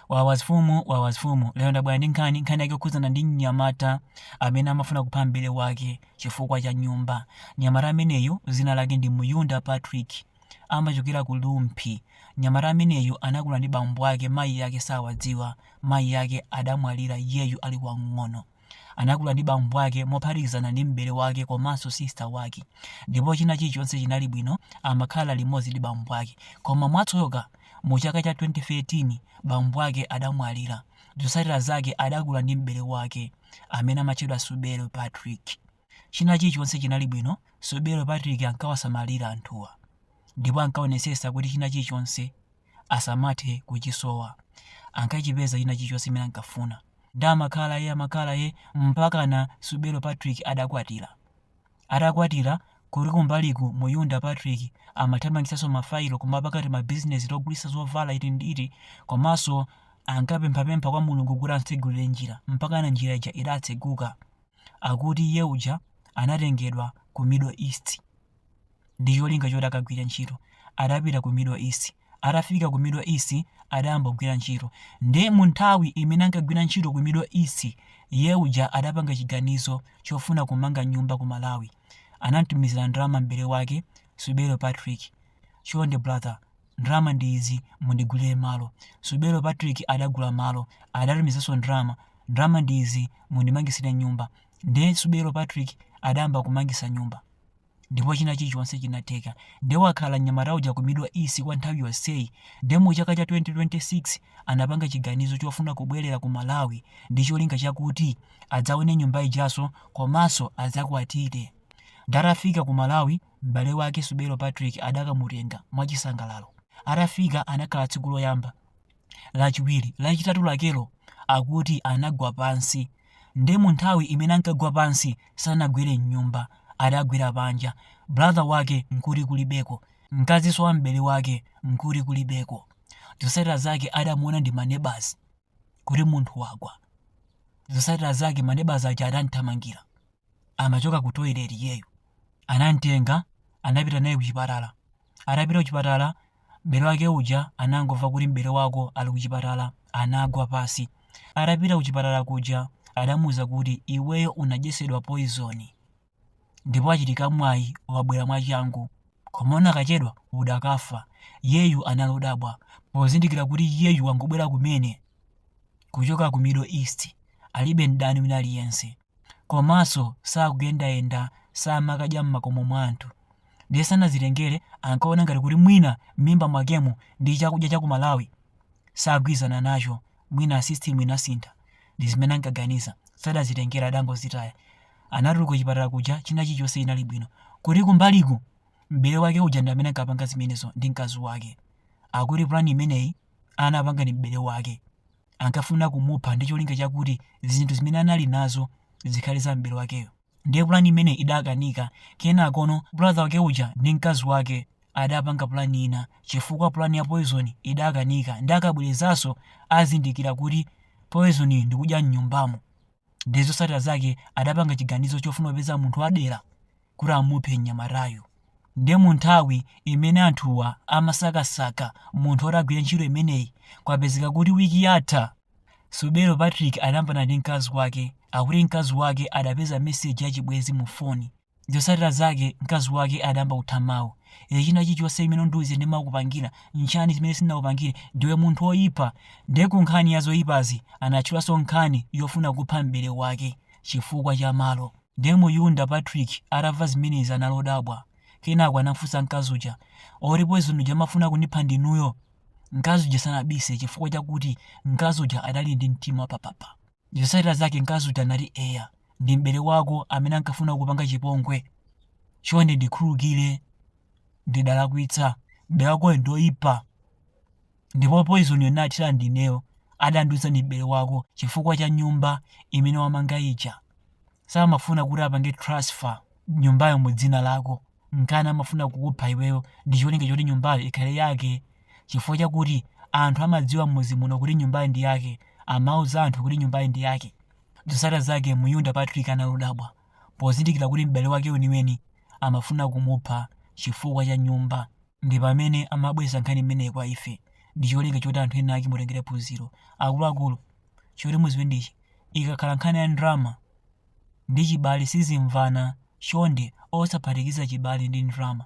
Wawas fumu wawas fumu lero ndabwera ndi nkhani nkhani yake yokhuzana ndi mnyamata amene amafuna kupha m'bale wake chifukwa cha nyumba mnyamata ameneyu zina lake ndi muyunda patrick amachokera ku lumphi mnyamata ameneyu anakula ndi bambo ake mayi ake sawadziwa mayi ake adamwalira iyeyu ali wamng'ono Anakula ndi bambo ake mophatikizana ndi m'bale wake komanso sister wake ndipo china chilichonse chinali bwino amakhala limodzi ndi bambo ake koma mwatsoka mu chaka cha 2013 bambo ake adamwalira zotsatira zake adakula ndi m'bale wake amene amatchedwa Subelo Patrick china chilichonse chinali bwino Subelo Patrick ankawasamalira anthuwa ndipo ankaonetsetsa kuti china chilichonse asamathe kuchisowa ankachipeza china chilichonse chimene ankafuna nde amakhala ye amakhala ye mpakana subelo patrick adakwatira atakwatira kuli kumbaliku muyunda patrick amathamangitsanso mafailo kumapanga timabizinesi togulitsa zovala iti ndi iti komanso ankapemphapempha kwa mulungu kuti amtsegulire njira mpakana njira ija idatseguka akuti iye uja anatengedwa ku middle east ndi cholinga choti akagwire ntchito adapita ku middle east atafika ku middle east adayamba kugwira ntchito nde mu nthawi imene ankagwira ntchito ku middle east iye uja adapanga chiganizo chofuna kumanga nyumba ku malawi anamtumizira ndalama m'bale wake subero patrick chonde brother ndalama ndi izi mundigulire malo subero patrick adagula malo adatumizanso ndalama ndalama ndi izi mundimangisire nyumba ndiye subero patrick adayamba kumangisa nyumba ndipo china chilichonse chinatheka nde wakhala mnyamata uja ku middle east kwa nthawi yonseyi nde mu chaka cha 2026 anapanga chiganizo chofuna kubwerera ku malawi ndi cholinga chakuti adzaone nyumba ijaso komanso adzakwatire nde atafika ku malawi m'bale wake subelo patrick adakamutenga mwachisangalalo atafika anakhala tsiku loyamba lachiwiri, lachitatu lakelo akuti anagwa pansi nde munthawi imene ankagwa pansi sanagwere mnyumba adagwera panja brother wake nkuti kulibeko mkaziso wa m'bale wake nkuti kulibeko zosatira zake adamuona ndi manebazi kuti munthu wagwa zosatira zake manebazi aja adamuthamangira amachoka ku toilet iyeyu anamtenga anapita naye kuchipatala atapita kuchipatala m'bale wake uja anangomva kuti m'bale wako ali kuchipatala anagwa pasi atapita kuchipatala kuja adamuuza kuti iweyo unadyetsedwa poison ndipo wachita mwayi wabwera mwachangu koma unakachedwa udakafa iyeyu anali odabwa pozindikira kuti iyeyu wangobwera kumene kuchoka ku middle east alibe mdani wina aliyense Komaso sakuyendayenda samakudya mmakomo mwa anthu ndiye sanazitengere ankaona ngati kuti mwina mmimba mwakemo ndi chakudya cha ku Malawi sagwizana nacho mwina system inasintha ndi zimene ankaganiza sadazitengere adangozitaya anatuluka kuchipatala kuja china chilichose chinali bwino koma kumbaliku m'bale wake uja ndi amene ankapanga zimenezo ndi mkazi wake akuti plan imeneyi anapanga ndi m'bale wake ankafuna kumupha ndi cholinga chakuti zinthu zimene anali nazo zikhale za m'bale wakeyo. Ndiye pulani imeneyi idakanika. Kenakono brother wake uja ndi mkazi wake adapanga pulani ina chifukwa pulani ya poison idakanika ndi akabwerezanso azindikira kuti poison ndikudya m'nyumbamo. ndiye zotsatira zake adapanga chiganizo chofuna kupeza munthu wadera kuti amuphe mnyamatayu ndiye mu nthawi imene anthuwa amasakasaka munthu oti agwire ntchito imeneyi kwapezeka kuti wiki yatha Muyunda Patrick adayambana ndi mkazi wake akuti mkazi wake adapeza meseji yachibwenzi mu foni Zosatira zake mkazi wake adayamba kutha mawu. Iwe china chilichonse chimene undiuza ndimakupangila, n'chani chimene sindinakupangile, ndiwe munthu woyipa nde kunkhani ya zoyipazi anatchulanso nkhani yofuna kupha m'bale wake chifukwa cha malo. Nde muyunda Patrick atamva zimenezi anali odabwa kenako anamfunsa mkazi uja, oti poison uja amafuna kundipha ndinuyo? Mkazi uja sanabise chifukwa chakuti mkazi uja adali ndi mtima wapapapa. Zotsatira zake mkazi uja anati, Eya, ndi m'bale wako amene ankafuna kukupanga chipongwe. Chonde ndikhululukire, ndidalakwitsa. M'bale wakoyo ndi oyipa. Ndipo poizoniyo nathira ndineyo, adandiuza ndi m'bale wako chifukwa cha nyumba imene wamanga ija. samafuna kuti apange transfer nyumbayo mu dzina lako nkana amafuna kukupha iweyo ndi cholinga choti nyumbayo ikhale yake chifukwa chakuti anthu amadziwa mmuzi muno kuti nyumbayo ndi yake amauza anthu kuti nyumbayo ndi yake zosatira zake muyunda patrick anali odabwa pozindikira kuti m'bale wake weniweni amafuna kumupha chifukwa cha nyumba ndi pamene amabweresa nkhani imeneyi kwa ife ndi cholinga choti anthu ena ake mutengere phunziro akuluakulu choti muziwe ndichi ikakhala nkhani ya ndalama ndi chibale sizimvana chonde osaphatikiza chibale ndi ndalama